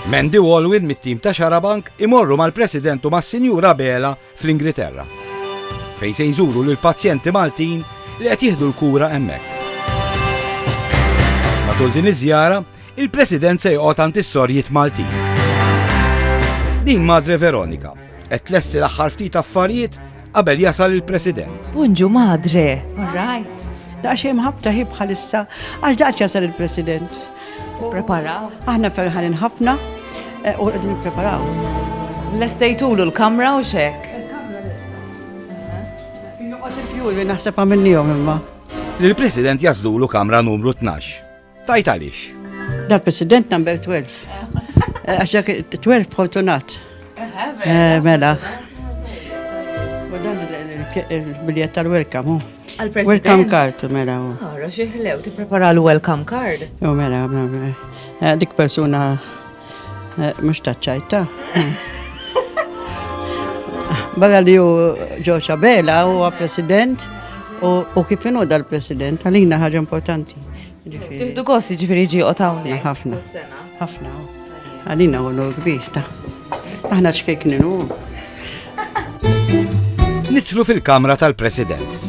Mandy Walwin mit-tim ta' Xarabank imorru mal-President u mas-Sinjura Bela fl-Ingilterra. Fejn se jżuru lil pazjenti Maltin li qed jieħdu l-kura hemmhekk. Matul din iż-żjara, il-President se joqgħod għand is-sorjiet Maltin. Din Madre Veronika, Qed tlesti l-aħħar ftit affarijiet qabel jasal il-President. Bunġu madre. All right. Daqxej mħabta hi bħalissa għax daqx jasal il-President. Prepara. Aħna ferħanin ħafna eh, u qegħdin nippreparaw. Lestejtulu l-kamra u xek. Innuqos il-fjuri naħseb għamilnihom imma. L-President jażdulu kamra numru 12. Tajt għaliex. Dal president number 12. Eh, għax dak 12 fortunat. Eh, mela. U dan il-biljett tal-welcome. Welcome card, mela. Għara, xieħlew, ti prepara l-welcome card. U mela, mela, mela. Eh, dik persuna Eh, mux taċċajta. Barra li ju ġoċa Bela u president u kif inu dal-president għalina ħaġa importanti. Tiħdu kosti ġifiri ġi u tawni. ħafna. ħafna. Għalina u l-kbir ta' Aħna ċkek ninu. Nitlu fil-kamra tal-President.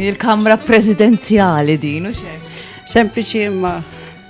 Il-kamra prezidenzjali din, u xejn. Sempliċi imma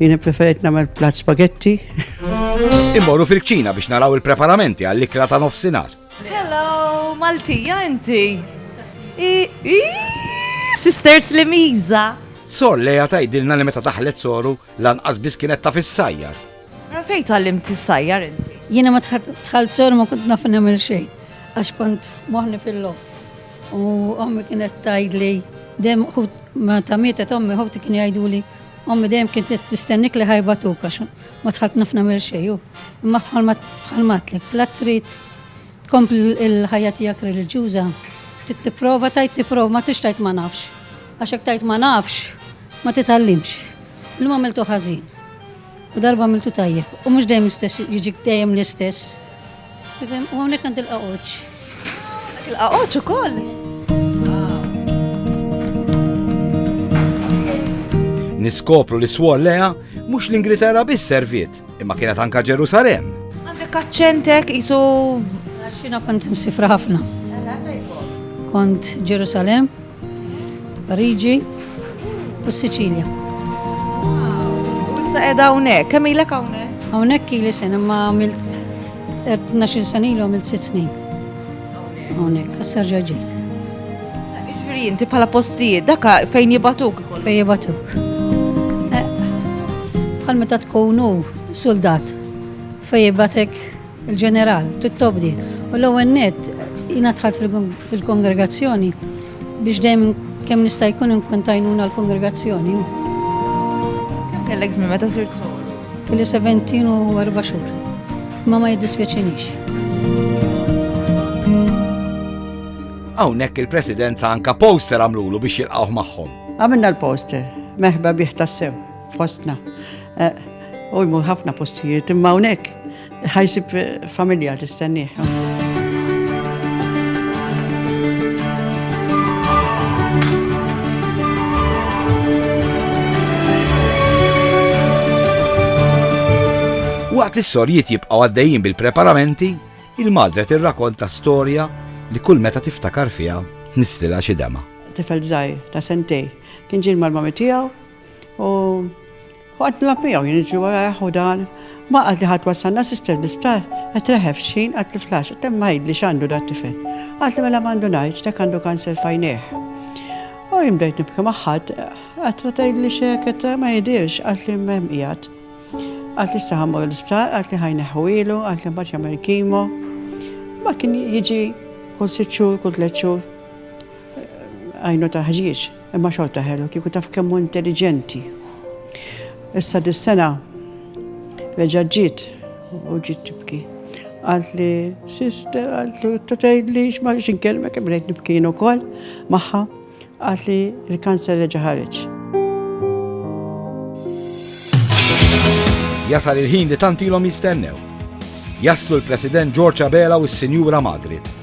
Jien ippreferejt nagħmel plat spaghetti. Immorru fil-kċina biex naraw il-preparamenti għall-ikla ta' nofsinhar. Hello, Maltija inti. Sisters li miża. Sor leja tajdilna li meta daħlet soru lanqas biss kienet ta' fis-sajjar. Ra fejn tgħallimt is-sajjar inti? Jiena ma tħalt soru ma kont naf nagħmel xejn għax kont moħni fil-lof. U ommi kienet tajdli dem ma ta' mietet ommi ħoti kien jgħiduli Ommi dejjem kien tistennik li ħajbatuk għax ma tħalt naf nagħmel xejn. Imma bħalma bħalmatlek, la trid tkompli l-ħajja tiegħek reliġjuża, trid tipprova tajt tipprova ma tix tajt ma nafx. Għax hekk tajt ma nafx ma titgħallimx. Illum għamiltu ħażin. U darba għamiltu tajjeb. U mhux dejjem jiġik dejjem l-istess. U hawnhekk għandi l-qaqoċ. Dak il-qaqoċ ukoll. Niskopru li swol leha mhux l-Ingilterra biss serviet, imma kienet anka Ġerusalem. Għandek aċċentek isu. Għaxina kont msifra ħafna. Kont Ġerusalem, Pariġi u s-Siċilja. U issa qiegħda hawnhekk, kemm ilek hawnhekk? Hawnhekk ili sena ma għamilt 12 sena ilu għamilt 6 snin. Hawnhekk, issa rġa' ġejt. Jiġifieri inti bħala postijiet dak fejn jibatuk? Fejn jibatuk. Eh, bħal meta tkunu soldat fejn jibatek Il-Ġeneral, Tittobdi, u l-ewwel nett jiena dħalt fil-kongregazzjoni biex dejjem kemm nista' jkun inkun tajnuna l-kongregazzjoni. Kemm kellek żmien meta sirt soru? Kelli 17 u 4 xhur. Ma ma jiddispjaċinix. Hawnhekk il-Presidenza anka poster għamlulu biex jilqgħuh magħhom. Għamilna l-poster, meħba bih tassew. Fostna. U jmur ħafna postijiet, imma hawnhekk ħajsib familja tistennieh. Waqt li s-sorjiet jibqgħu għaddejjin bil-preparamenti, il-madre tirrakonta storja li kull meta tiftakar fiha nistila xi dema. Tifel żgħir ta' sentej kien ġil mal-mami tiegħu U waqt nilgħab miegħu jien niġri warajh u dan ma qalt li ħadd wassalna sister l-isptar qed reħef x'ħin qalt li flax qed hemm ngħidli x'għandu dat tifel. Qalt li mela m'għandu ngħid dak għandu kanser fajnejh. U jien bdejt nibki maħħad, qed tgħidli x'hekk qed ma jidirx qalt li m'hemm qiegħed. Qalt li issa ħammur l-isptar qalt li ħajneħħu ilu qalt li mbagħad jagħmel kimo. Ma kien jiġi kull sitt xhur kull tliet xhur għajnu ta' ħġieġ. Imma xorta ħelu, kieku taf kemm hu intelliġenti. Issa dis-sena reġa' ġiet u ġiet tibki. Qalt li sister, qalt li ta' tgħidli x'ma x'inkelmek kemm rejt nibkien ukoll magħha. Qalt li l-kanser reġa' ħareġ. Jasal il-ħin li tantilhom jistennew. Jaslu l-President George Abela u s-Sinjura Margaret.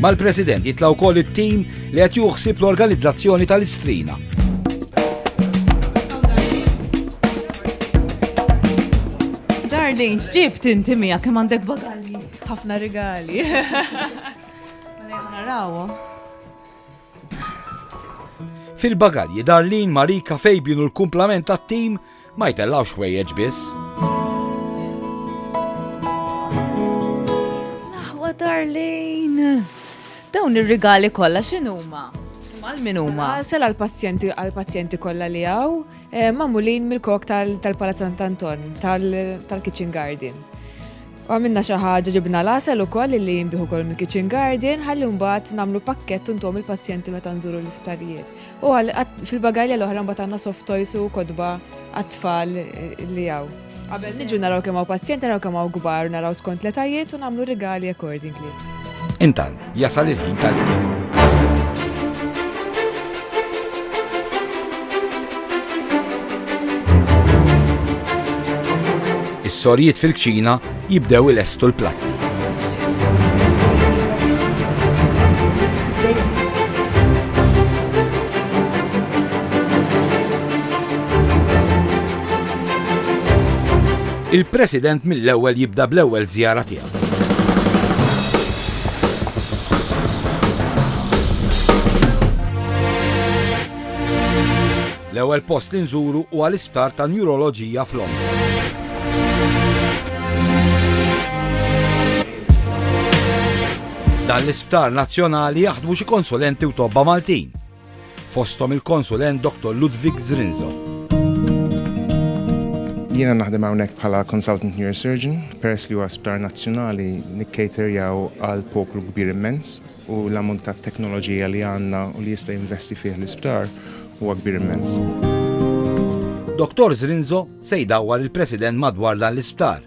Mal-President jitla' wkoll it-tim li qed juħsib l-organizzazzjoni tal-istrina. Darlene, x'ġibt inti miegħek kemm għandek bagalji? Ħafna rigali. Narawhom. Fil-bagalji Darlin, Marika, Fabian u l-kumplament tat-tim Ma jtellgħux ħwejjeġ biss. Darlene. Dawn ir-rigali kollha x'inhuma? Mal min huma? Ah, sel għall-pazjenti għall-pazjenti kollha li hawn eh, magħmulin mill-kok tal-Palazz Sant Anton tal-Kitchen Garden. Għamilna xi ħaġa ġibna l-asel ukoll li jinbiħu kol mill-Kitchen Garden ħalli mbagħad nagħmlu pakkett untom il-pazjenti meta nżuru l-isptarijiet. U għal fil-bagalja l-oħra mbagħad għandna soft toys u kodba għat-tfal li hawn. Qabel niġu naraw kemm hawn pazjenti, naraw kemm hawn kbar, naraw skont l-etajiet u nagħmlu rigali accordingly. Intan, jasal il-ħin tal-ikel. sorjiet fil-kċina Jibdew ilestu l-platti. Il-President mill-ewwel jibda bl-ewwel żjara tiegħu. L-ewwel post li nżuru huwa l-Isptar ta' Njuroloġija f'Londra. Dan l-isptar nazzjonali jaħdmu xi konsulenti u tobba Maltin. Fostom il-konsulent Dr. Ludwig Zrinzo. Jiena naħdem hawnhekk bħala consultant neurosurgeon, peress li huwa sptar nazzjonali nikkaterjaw għal poplu kbir immens. u l-ammont ta' teknoloġija li għandna u li jista' jinvesti fih l-isptar huwa kbir immens. Dottor Zrinzo se jdawwar il-President madwar dan l-isptar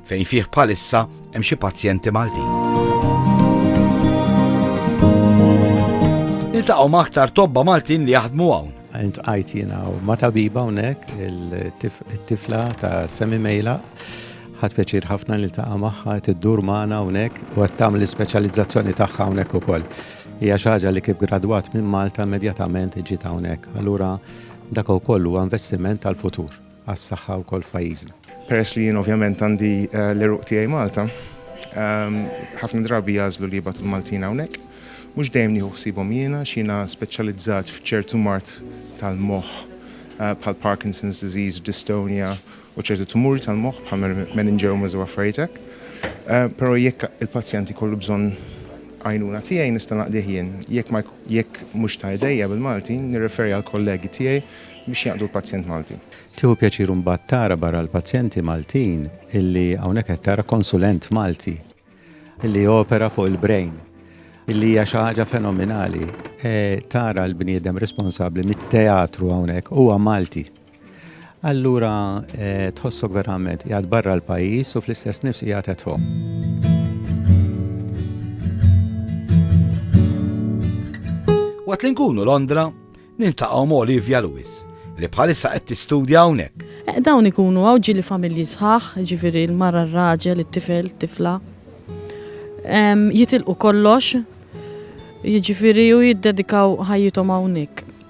fejn fih bħalissa hemm xi pazjenti Maltin. Niltaqgħu ma' aktar tobba Maltin li jaħdmu hawn. Int qajt jiena ma' tabiba hawnhekk, it-tifla ta' Semi Mejla Ħadt pjaċir ħafna niltaqa' magħha, qed iddur magħna hawnhekk u qed tagħmel l-ispeċjalizzazzjoni tagħha hawnhekk ukoll. Hija xi ħaġa li kif gradwat minn Malta immedjatament ġiet hawnhekk. Allura dak ukoll huwa investiment għall-futur, għas-saħħa wkoll f'pajjiżna. Peress li jien ovvjament għandi l-għeruq tiegħi Malta, ħafna drabi jagħżlu li jibgħatu l-Maltin hawnhekk. Mhux dejjem nieħu ħsiebhom jien għax jiena speċjalizzat f'ċertu mard tal-moħħ bħall-Parkinson's disease, dystonia u ċerti tumuri tal-moħħ bħal meningiomas u affarijiet hekk. Però jekk il-pazjent ikollu bżonn għajnuna tiegħi nista' naqdih jien. Jekk ma jekk mhux ta' idejja bil-Malti, nirreferi għall-kollegi tiegħi biex jaqdu l-pazjent Malti. Tieħu pjaċir imbagħad tara barra l-pazjenti Maltin illi hawnhekk qed tara konsulent Malti illi jopera fuq il-brain illi hija xi ħaġa fenomenali. Tara l-bniedem responsabbli mit-teatru hawnhekk huwa Malti. Allura tħossok verament qiegħed barra l-pajjiż u fl-istess nifs qiegħed at home. Waqt li nkunu Londra, nintaqgħu ma' Olivia Lewis, li bħalissa qed tistudja hawnhekk. Eh, dawn ikunu hawn ġili familji sħaħ, ġifieri l-mara r-raġel, it-tifel, tifla. Jitilqu kollox, jiġifieri u jiddedikaw ħajjithom hawnhekk.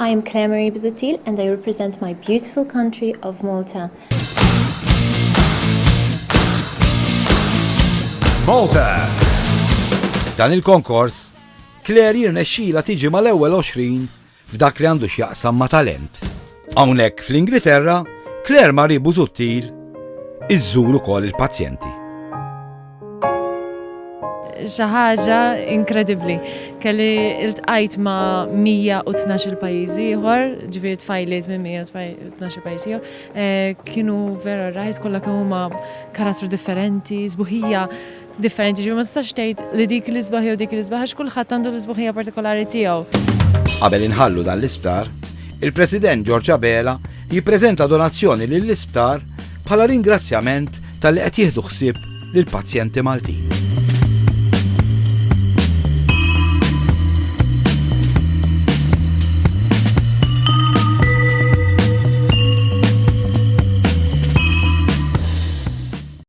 I am Claire Marie Busuttil and I represent my beautiful country of Malta. Malta! Dan il-konkors, Claire jirnexxila tiġi mal-ewwel 20 f'dak li għandu x'jaqsam ma' talent. Hawnhekk fl-Ingilterra, Claire Marie Busuttil iżżur ukoll il-pazjenti. Xi ħaġa inkredibbli. Kelli iltqajt ma' 112 pajjiż ieħor, ġifieri tfajliet minn 112 pajjiż ieħor. Eh, kienu vera rajt kollha kemm huma karattru differenti, sbuħija differenti, ġifieri ma tistax tgħid li dik li sbaħ jew dik li sbaħ għax kulħadd għandu l-isbuħija partikolari tiegħu. Qabel inħallu dan l-isptar, il-President George Abela jippreżenta donazzjoni lill-isptar bħala ringrazzjament Talli qed jieħdu ħsieb lill-pazjenti Maltin.